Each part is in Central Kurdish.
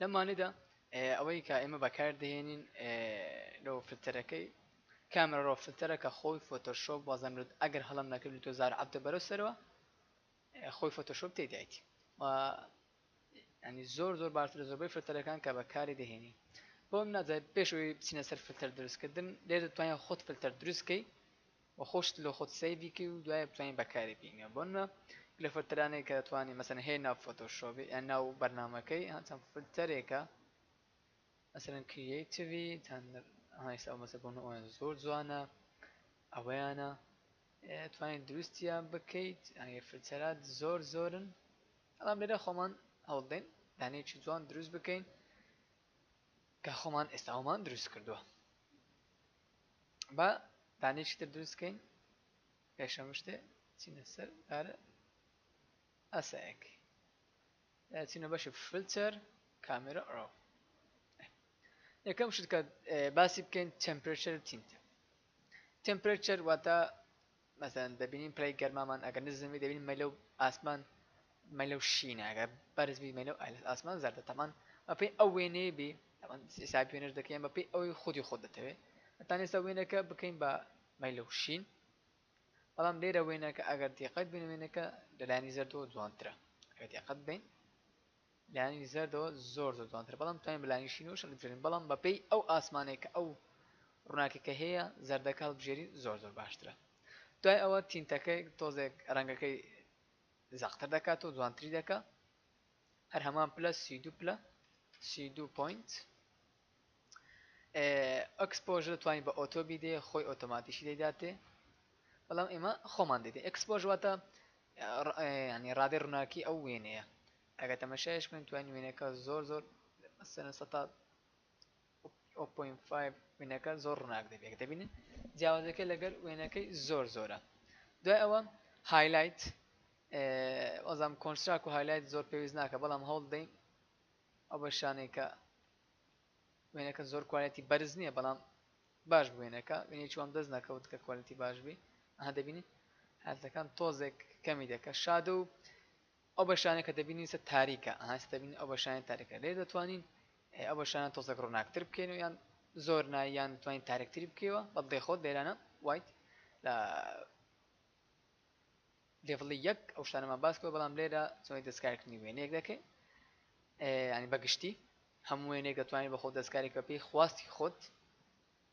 لەم وانەیدا ئەوەی کە ئێمە بەکار دەهێنین لەو فلتەرەکەی کامرە ڕۆ فلتەرە کە خۆی فۆتۆشۆپ وازەمرد ئەگەر هەڵم نەکرد لە تۆزار عبدە بەرەو سەرەوە خۆی فۆتۆشۆپ تێدایتی و ینی زۆر زۆر باشتر زۆربەی فلتەرەکان کە بەکاری دەهێنی بۆم ناجای پێشەوەی بچینە سەر فلتەر دروستکردن لێ دەتوانین خۆت فلتەر دروستکەی و خۆشت لۆ خۆت سەیڤی کەی و دوای بتوانی بەکاری بینە بۆ نمە گلە فلتەرانەی کە دەتوانی مەسەن هەیە ناو فۆتۆ شۆبی یان ناو بەرنامەکەی هەچەند فلتەرێکە مەسەن کریەیتڤی تان هایسا و مەسە بۆن ئۆیان زۆر جوانە ئەوەیانە توانین دروستیان بکەیت ئەگەر فلتەرات زۆر زۆرن ئەڵام لێرە خۆمان هەوڵدەین دانەیەکی جوان دروست بکەین کە خۆمان ئێستاومان دروست کردووە با دانەیەکی تر دروست کەین پێش هەموو شتێ چینە سەر دارە ئاسایەک چینە بەشی فلتەر کامێرە ئەو یەکەم شت کە باسی بکەین تەمپرێچەر تینتە تەمپرێچەر واتە مەسەلەن دەبینین پلەی گەرمامان ئەگەر نزم بی دەبینین مەیلە و ئاسمان مەیلە و شینە ئەگەر بەرز بی مەیلە و ئاسمان زەردە تەمان بەپێی ئەو وێنەیە بی تەمان حسابی وێنەش دەکەین بەپێی ئەوەی خودی خۆت دەتەوێت ئەتان ئێستا وێنەکە بکەین بە مەیلە و شین بەڵام لێرە وێنەکە ئەگەر دیقەت بین وێنەکە لەلایەنی زەردەوە جوانترە ئەگەر دیقەت بین لایەنی زەردەوە زۆر زۆر جوانترە بەڵام توانین بە لایەنی شینەوەش هەڵبژێرین بەڵام بە پێی ئەو ئاسمانەی کە ئەو ڕووناکەکە هەیە زەردەکە هەڵبژێری زۆر زۆر باشترە دوای ئەوە تینتەکەی تۆزێک ڕەنگەکەی زەقتر دەکات و جوانتری دەکە هەر هەمان پلە سی دو پلە سی دو پوینت ئەکسپۆژە توانین بە ئۆتۆ بیدێ خۆی ئۆتۆماتیشی دەیداتێ بەڵام ئێمە خۆمان دەێت ئەکسپۆژ واتە ینی ڕادێ ڕووناکی ئەو وێنەیە ئەگەر تەمەشایش بکەن توانی وێنەکە زۆر زۆر مەسەلەن سەتا ئۆ پۆین فایڤ وێنەکە زۆر ڕووناک دەبێت کە دەبینن جیاوازەکە لەگەر وێنەکەی زۆر زۆرە دوای ئەوە هایلایت ئەزام کۆنسراک و هایلایت زۆر پێویست ناکە بەڵام هەوڵ دەین ئەو بە شانێکە وێنەکە زۆر کوالەتی بەرز نییە بەڵام باش بوێنەکە وێنێکی وام دەست نەکەوت کە کوالەتی باش بی ئەها دەبینی هەلتەکان تۆزێک کەمی دەکە شادە و ئەو بەشانەی کە دەبینین ئیستا تاریکە ئەها ئیستا دەبینین ئەو بەشانەی تاریکە لێرە دەتوانین ئەو بەشانە تۆزەک ڕوناکتر بکەینەوە یان زۆر نا یان دەتوانین تاریکتری بکەیەوە بەڵ دەیخۆت لێرانە وایت لە لێڤڵی یەک ئەو شتانەمان باس کرد بەڵام لێرە چۆنی دەستکارکردنی وێنەیەک دەکەین ینی بەگشتی هەموو وێنێک دەتوانین بە خۆ دەستکاری کە پێی خواستی خۆت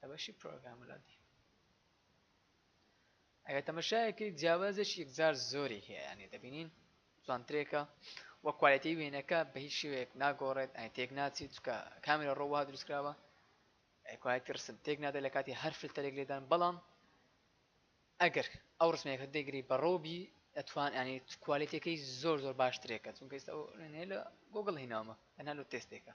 لە بەشی پرۆگرامەلادی ئەگە تەمەشایەکەی جیاوازێکی یەکجار زۆری هەیە یانێ دەبینین جوانترێکە وە کوالەتی وێنەکە بە هیچ شێوەیەک ناگۆڕێت ئەی تێک ناچی چکە کامێرە ڕۆوا دروستکراوە کوالەتی ڕسم تێک نادە لە کاتی هەر فلتەرێک لێدان بەڵام ئەگەر ئەو ڕسمێکە دەگری بە ڕۆبی ئەتوان ئەنی کوالەتەکەی زۆر زۆر باشترێکە چونکە ئێستا لە گۆگل هیناومە تەنها لە تێستێکە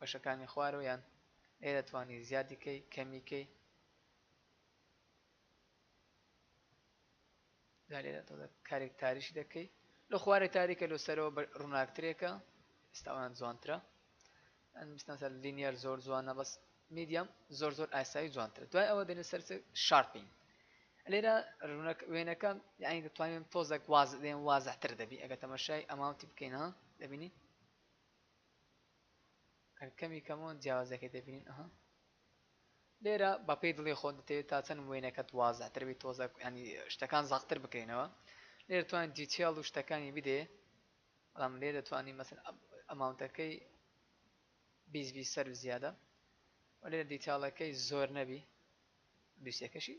بەشەکانی خوارەوە یان ئەی دەتوانی زیادی کەی کەمی کەی جا لێرە تۆ کارێک تاریشی دەکەی لە خوارێ تاریکە لۆ سەرەوە ڕووناکترێکە ئێستاوان جوانترە ئەنبستان سەر لینیەر زۆر جوانە بەس میدیەم زۆر زۆر ئاسایی جوانترە دوای ئەوە دێنە سەر شارپین لێرە وێنەکە یانی دەتوانین تۆزەک واز دێن وازەتر دەبی ئەگە تەمەشای ئەماوتی بکەینەوە دەبینی کەمی کەمەوە جیاوازەکەی دەبینین ئەها لێرە بەپی دڵی خۆ دەتەوێت تا چەند وێنەکەت وازاتر بێت تۆزە ینی شتەکان زاقتر بکەینەوە لێر توان دیتیال و شتەکانی بدێ بەڵام لێ دەتوانانی مەسن ئەماونتەکەی بیزبی سەر و زیادە و لێرە دیتالەکەی زۆر نەبی دوسیەکەشی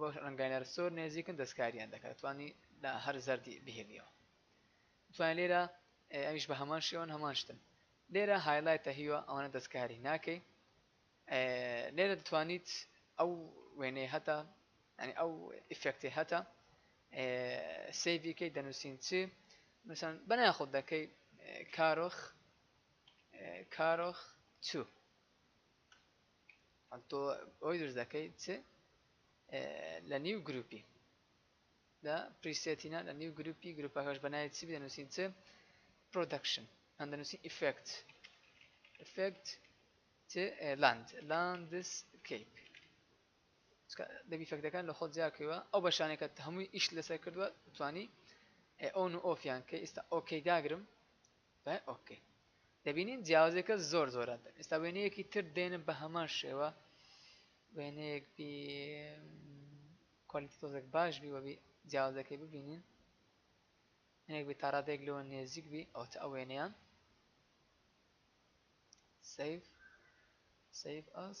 بۆ ڕەنگاینەر زۆر نێزیکن دەستکاریان دەکەن دەتوانی لە هەر زەردی بهێنیەوە دەتوانی لێرە ئەویش بە هەمان شێوەن هەمان شتن لێرە هایلایتە هیوە ئەوانە دەستکاری ناکەی لێرە دەتوانیت ئەو وێنەی هەتا ینی ئەو ئیفێکتی هەتا سیڤکەی دەنووسین چی مثلەن بەنای خۆت دەکەی کارۆخ کارۆخ چوو تۆ بۆی دروست دەکەی چ لە نیو گروپی لە پریسێتینا لە نیو گروپی گروپەکەش بەناوی چی بدەنووسین چ پرۆدەکشن ئەم دەنووسین ئیفێکت ئیفێکت چ لاند لاندس کەیپ دەبی فەکتەکان لە خۆت جیاکەوە ئەو بەشانێکە هەمووی ئیش لەسەر کردووە توانی ئەون و ئۆفیان کە ئێستا ئۆکەی داگرم بە ok دەبینین جیاوازیەکە زۆر زۆرە ئێستا وێنەیەکی تر دێنم بە هەمان شێوە وێنەیەک بی کوالیتی تۆزێک باش بی وەبی جیاوازەکەی ببینین هەنێک بێت تاڕادێک لەوە نێزیک بی ئەو تا ئەوێنەیان سیف سیف ئەس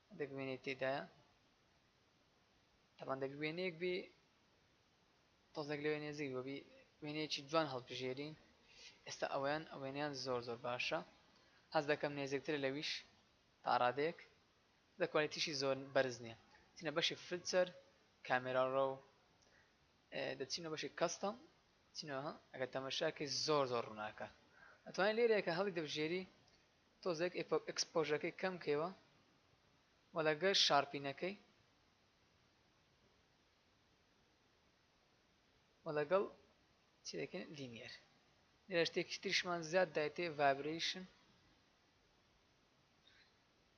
دەک وێنەی تێدایە تەبان دەک وێنەیەک بێ تۆزێک لەوێ نێزیک بەبی وێنەیەکی جوان هەڵبژێرین ئێستا ئەویان ئەوێنیان زۆر زۆر باشە هەز دەکەم نێزێکتر لەویش تاڕادێک دە کوالێتیشی زۆر بەرز نییە چینە بەشی فلچەر کامێرا ڕۆ دەچینە بەشی کەستەم چینەوە ئەگەر تەمەشاکی زۆر زۆر ڕووناکە ئەتوانین لێرەیەکە هەڵی دەبژێری تۆزێک ئێکسپۆژەکەی کەم کەیوە وە لەگەر شارپینەکەی وە لەگەڵ چی دەکەین لینیەر لێرە شتێکی تریشمان زیاد دایتێ ڤایبریشن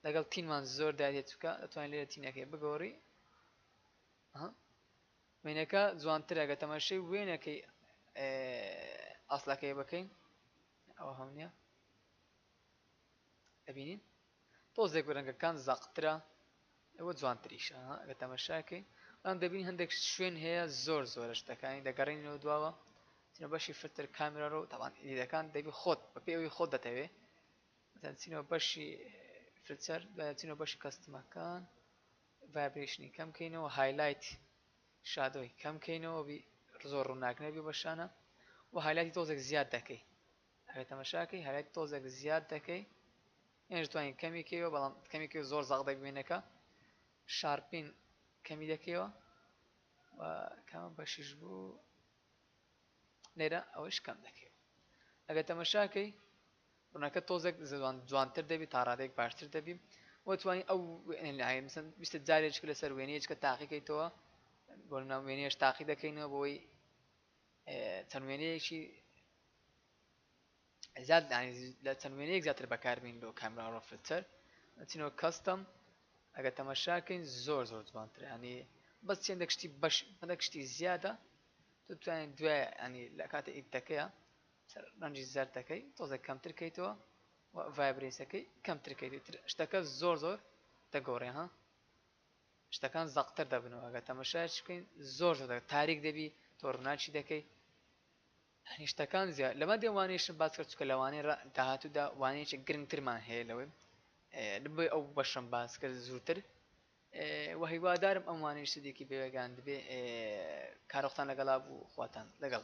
لەگەڵ تینمان زۆر دایێت چکە دەتوانین لێرە تینەکەی بگۆڕی وێنەکە جوانترە گە تەمەشەی وێنەکەی ئاسلەکەی بکەین نە ئەوە هەم نیە ئەبینین تۆزێک رەنگەکان زەقترە ئەوە جوانتریشە ئەگە تەمەشاکەی ئەم دەبین هەندێک شوێن هەیە زۆر زۆرە شتەکانی دەگەڕینەوە دواوە چینە بەشی فرتر کامرە ڕۆ تاوان ئیدەکان دەبی خۆت بە پێ ئەوی خۆت دەتەوێ چینەوە بەشی فرچەر چینەوە بەشی کەستمەکان ڤایبرێشنی کەم کەینەوە هایلایت شادۆی کەم کەینەوە بی زۆر ڕوناک نەبی بە شانە وە هایلایتی تۆزێک زیاد دەکەی ئەگەر تەمەشاکەی هایلایتی تۆزێک زیاد دەکەی یانیش توانین کەمی کەیەوە بەڵام کەمی کەی زۆر زاق دەک وێنەکە شارپین کەمی دەکەیەوە و کامە بەشیش بوو لێرە ئەوەیش کەم دەکەیەوە. ئەگەر تەمەشا کەی ڕونەکە تۆزێک جوانتر دەبی تاڕادەیەک باشتر دەبی وە توانی ئەو ویستە جارێککە لەسەر وێنەیەچکە تاقی کەیتەوە بۆ ناو وێنێش تاقی دەکەینەوە بۆی چەند وێنەیەکی زیاد یعنی لە چەند وێنەیەک زیاتر بەکاربین بۆ کامرا ڕۆ فلتەر ئەچینەوە کەستەم ئەگەر تەماشاکەین زۆر زۆر جوانتر ینی بەس چێن دەکشتی بەش هەندێک شتی زیادە تو توانین دوای ینی لە کاتە ئیدەکەیە ڕەنجی زەردەکەی تۆزە کەمتر کەیتەوە ڤایبرێسەکەی کەمتر کەیتر شتەکە زۆر زۆر دەگۆڕێ ها شتەکان زەقتر دەبنەوە ئەگە تەمەشایش بکەین زۆر زۆر تاریک دەبی تۆ ڕناچی دەکەی هەنیشتەکان زیاد لەمە دێن وانەیشم باس کرد چونکە لە وانەی ڕە داهاتوودا وانەیەکی گرنگترمان هەیە لەوەی بۆیە ئەو بەشەم باس کرد زووتر و هیوادارم ئەم وانەی سودێکی بێگان دەبێ کارۆختان لەگەڵا بوو خواتان لەگەڵ